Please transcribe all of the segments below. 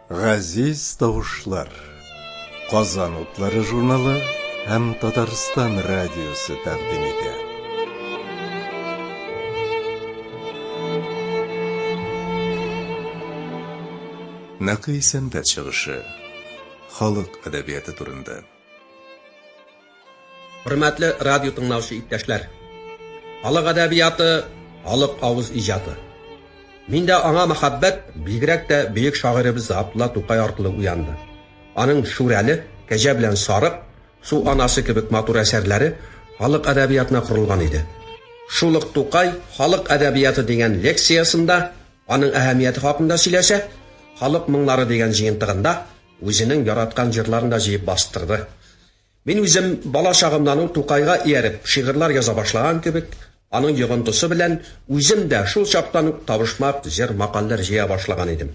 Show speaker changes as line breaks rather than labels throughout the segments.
Газиз тавышлар. Казан утлары журналы һәм Татарстан радиосы тәкъдим итә. Нәкый сәнгать чыгышы. Халык әдәбияты турында.
Хөрмәтле радио тыңлаучы иптәшләр! Халык әдәбияты, халык авыз иҗаты. Миндә аңа мәхәббәт бигрәк тә бөек шагыйребез Габдулла Тукай аркылы уянды. Аның Шүрәле, Кәҗә белән сарык, Су анасы кебек матур әсәрләре халык әдәбиятына корылган иде. Шул ук Тукай Халык әдәбияты дигән лекциясендә аның әһәмияте хакында сөйләсә, Халык моңнары дигән җыентыгында Үзенең яраткан җырларын да җыеп бастырды. Мин үзем бала чагымнан ук Тукайга ияреп шигырьләр яза башлаган кебек, аның йогынтысы белән үзем дә шул чактан ук табышмак җыр-макальләр җыя башлаган идем.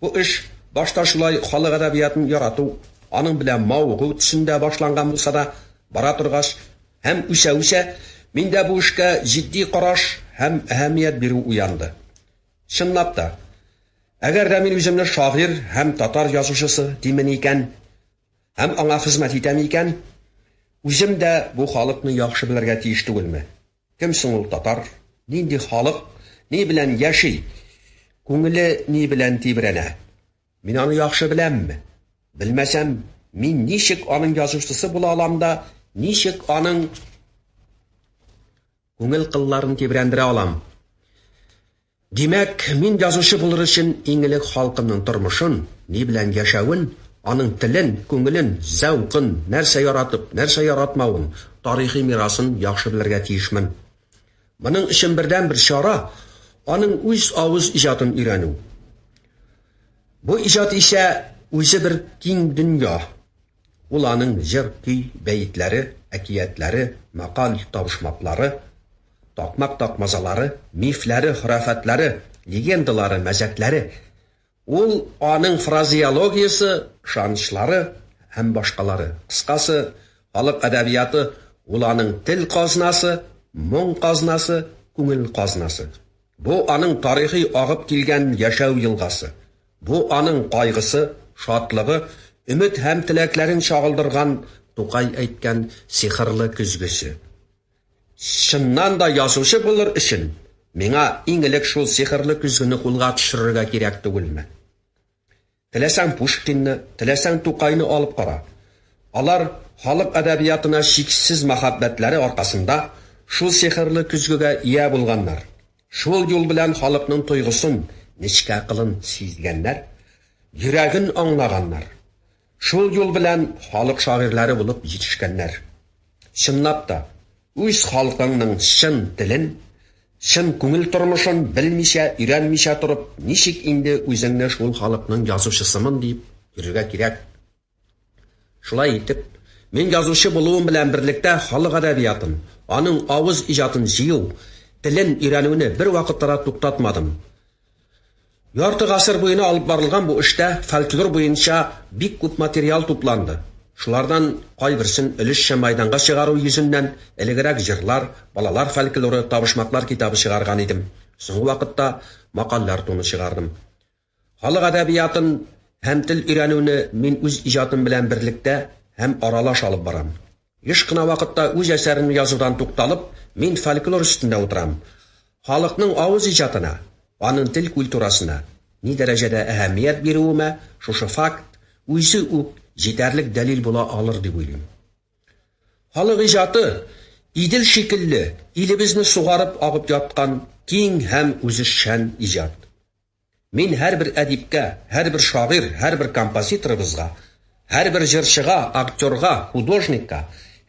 Бу эш башта шулай халык әдәбиятын ярату, аның белән мавыгу төсендә башланган булса да, бара торгач һәм үсә-үсә, миндә бу эшкә җитди караш һәм әһәмият бирү уянды. Чынлап та, әгәр дә мин үземне шагыйрь һәм татар язучысы димен икән һәм аңа хезмәт итәм икән, үзем дә бу халыкны яхшы белергә тиеш түгелме? Кем соң ул татар, нинди халык, ни белән яши, күңеле ни белән тибрәнә? Мин аны яхшы беләмме? Белмәсәм, мин ничек аның язучысы була алам да ничек аның Күңел кылларын тибрәндерә алам. Димәк, мин язучы булыр өчен иң элек халкымның тормышын, ни белән яшәвен, аның телен, күңелен, зәвкын, нәрсә яратып, нәрсә яратмавын, тарихи мирасын яхшы белергә тиешмен. Моның өчен бердәнбер чара, аның үз авыз иҗатын өйрәнү. Бу иҗат исә үзе бер киң дөнья. Ул аның җыр, көй, бәетләре, әкиятләре, макаль, табышмаклары, такмак такмазалары, мифләре, хорафәтләре, легендалары, мәзәкләре, ул аның фразеологиясе, ышанычлары һәм башкалары, кыскасы, халык әдәбияты, ул аның тел казнасы, моң казнасы, күңел казнасы. Бу, аның тарихи агып килгән яшәү елгасы. Бу аның кайгысы, шатлыгы, өмет һәм теләкләрен чагылдырган Тукай әйткән сихырлы көзгесе. Чыннан да язучы булыр өчен миңа иң элек шул сихырлы көзгене кулга төшерергә кирәк түгелме? Теләсәң Пушкинны, теләсәң Тукайны алып кара. Алар халык әдәбиятына чиксез мәхәббәтләре аркасында шул сихырлы көзгегә ия булганнар. Шул юл белән халыкның тойгысын, нечкә кылын сизгәннәр, йөрәген аңлаганнар. Шул юл белән халык шагыйрьләре булып җитешкәннәр. Чынлап та, үз халкыңның чын телен, чын күңел тормышын белмичә, өйрәнмичә торып, ничек инде үзеңне шул халыкның язучысымын дип йөрергә кирәк? Шулай итеп, мин язучы булуым белән берлектә халык әдәбиятын, аның авыз иҗатын җыю, телен өйрәнүне бервакытта да туктатмадым. Ярты гасыр буена алып барылган бу эштә фольклор буенча бик күп материал тупланды. Шулардан кайберсен өлешчә мәйданга чыгару йөзеннән элегрәк җырлар, балалар фольклоры, табышмаклар китабы чыгарган идем. Соңгы вакытта Макальләр томы чыгардым. Халык әдәбиятын һәм тел өйрәнүне мин үз иҗатым белән берлектә һәм аралаш алып барам. Еш кына вакытта үз әсәремне язудан тукталып, мин фольклор өстендә утырам. Халыкның авыз иҗатына, аның тел культурасына ни дәрәҗәдә әһәмият бирүемә шушы факт үзе үк җитәрлек дәлил була алыр дип уйлыйм. Халык иҗаты, Идел шикелле, илебезне сугарып агып яткан киң һәм үзешчән иҗат. Мин һәрбер әдипкә, һәрбер шагыйрь, һәрбер композиторыбызга, һәрбер җырчыга, актерга, художникка,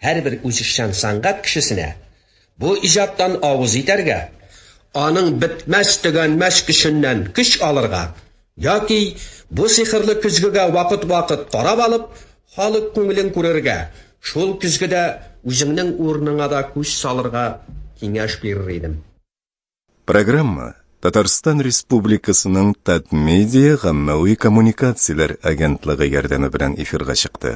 һәрбер үзешчән сәнгать кешесенә бу иҗаттан авыз итәргә, аның бетмәс-төгәнмәс көченнән көч алырга яки бу сихерле көзгегә вакыт-вакыт карап алып, халык күңелен күрергә, шул көзгедә үзеңнең урыныңа да күз салырга киңәш бирер идем. Программа
Татарстан Республикасының Татмедиа гаммәви коммуникацияләр агентлыгы ярдәме белән эфирга чыкты.